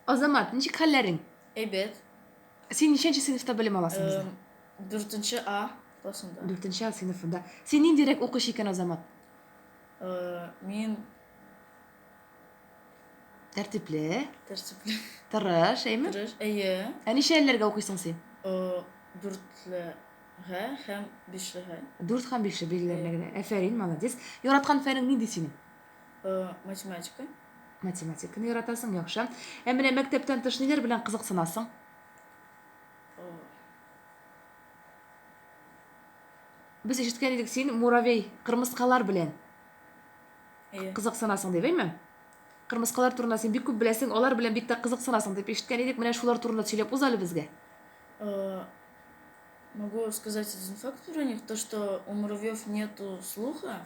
Азамат, ничек хәлләрең? Әйбәт. Син ничәнче сыйныфта белем аласың бездә? Эм, Дүртенче А классында. Дүртенче А сыйныфында. Син ниндирәк укучы икән, Азамат? Э, Мин Тәртипле, тәртипле тырыш, әйме? тырыш. Әйе. Ә ничәләргә укыйсың син? Э, Дүртлегә һәм бишлегә. Дүрт һәм бишле билгеләргә генә. Әфәрин, молодец. Яраткан фәнең нинди синең? математика математиканы яратасың яхшы ә менә мәктәптән тыш ниләр белән кызыксынасың без ишеткән идек син муравей кырмыскалар белән кызыксынасың дип әйме кырмыскалар турында син бик күп беләсең алар белән бик тә кызыксынасың дип ишеткән идек менә шулар турында сөйләп уз әле безгә могу сказать один факт про них то что у муравьев нету слуха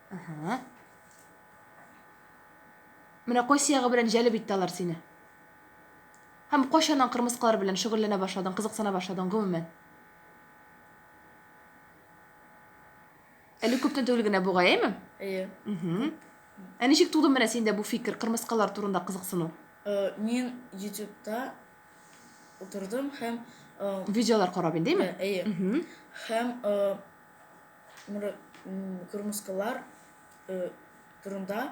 Әһә. Менә кайсы ягы белән җәлеп итте алар сине? Һәм кайчаннан кырмыскалар белән шөгыльләнә башладың, кызыксына башладың, гомумән? Әле күптән түгел генә бугай, әйме? Әйе. Мгм. Ә ничек туды менә синдә бу фикер, кырмыскалар турында кызыксыну? Э, Мин Ютубта утырдым һәм э, Видеолар карап инде, әйме? Ә, әйе. Мгм. Һәм э, Муры, кырмыскалар э, турында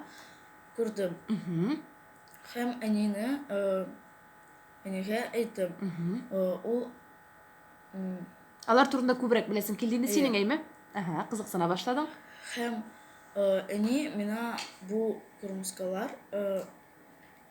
күрдем. Һәм әнине э, әнигә әйттем. Э, ул Алар турында күбрәк беләсең килдеме синең әйме? Ага, кызыксына башладың. Һәм э, әни мина бу кырмыскалар э,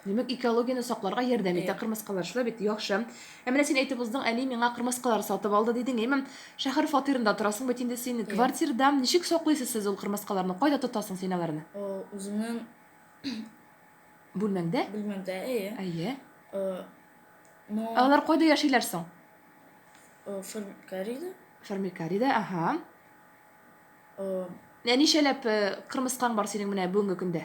Димәк, экологияне сакларга ярдәм итә кырмыскалар. Шулай бит, яхшы. Ә менә син әйтеп уздың, әни миңа кырмыскалар сатып алды дидең, әйме? Шәһәр фатирында торасың бит инде син. Квартирада ничек саклыйсыз сез ул кырмыскаларны? Кайда тотасың син аларны? Үземнең Бүлмәңдә? Бүлмәмдә, әйе. Әйе. Ну, Ә алар кайда яшиләр соң? Фермикарида. Фермикарида, аһа. Ә ничәләп кырмыскаң бар синең менә бүгенге көндә?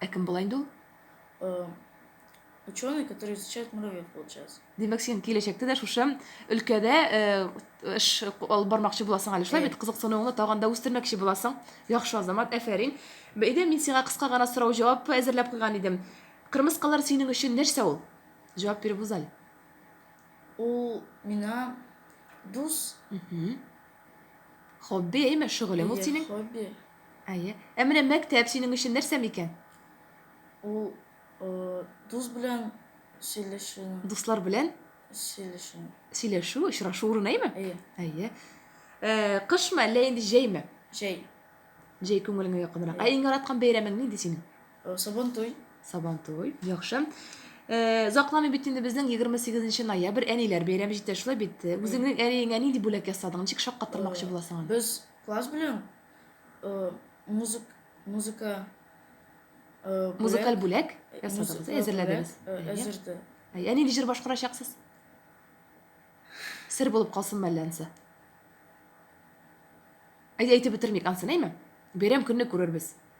Ә кем була инде ул? Э, ученый, который изучает муравьев, получается. Димәк, син киләчәктә дә шушы өлкәдә э, эш алып бармакчы буласың әле. Шулай бит кызыксынуыңны тагын да үстермәкче буласың. Яхшы, Азамат, әфәрин. Бәйдә мин сиңа кыска гына сорау җавап әзерләп куйган идем. Кырмыскалар синең өчен нәрсә ул? Җавап биреп узаль. Ул мина дус. Хобби, әйме, шөгылең ул синең? Хобби. Әйе. Ә менә мәктәп синең өчен нәрсә микән? Ул дус белән сөйләшү. Дуслар белән? Сөйләшү. Сөйләшү, очрашу урыны, әйме? Әйе. Әйе. Кышмы, әллә инде җәйме? Җәй. Җәй күңелеңә якынрак. Ә иң яраткан бәйрәмең нинди синең? Сабантуй. Сабантуй. Яхшы. Озакламый бит инде безнең 28 ноябрь әниләр бәйрәме җитә, шулай бит? Үзеңнең әниеңә нинди бүләк ясадың? Ничек шаккаттырмакчы буласың аны? Без класс белән э, музык, музыка э, Музыкаль бүләк э, ясадыгыз, музыка әзерләдегез. бүләк, э, Әйе. әзерде. Әйе, Әни җыр башкарачаксыз? Сер булып калсын мәллә ансы? Әйе, әйтеп бетермик ансын, әйме? Бәйрәм көнне күрербез.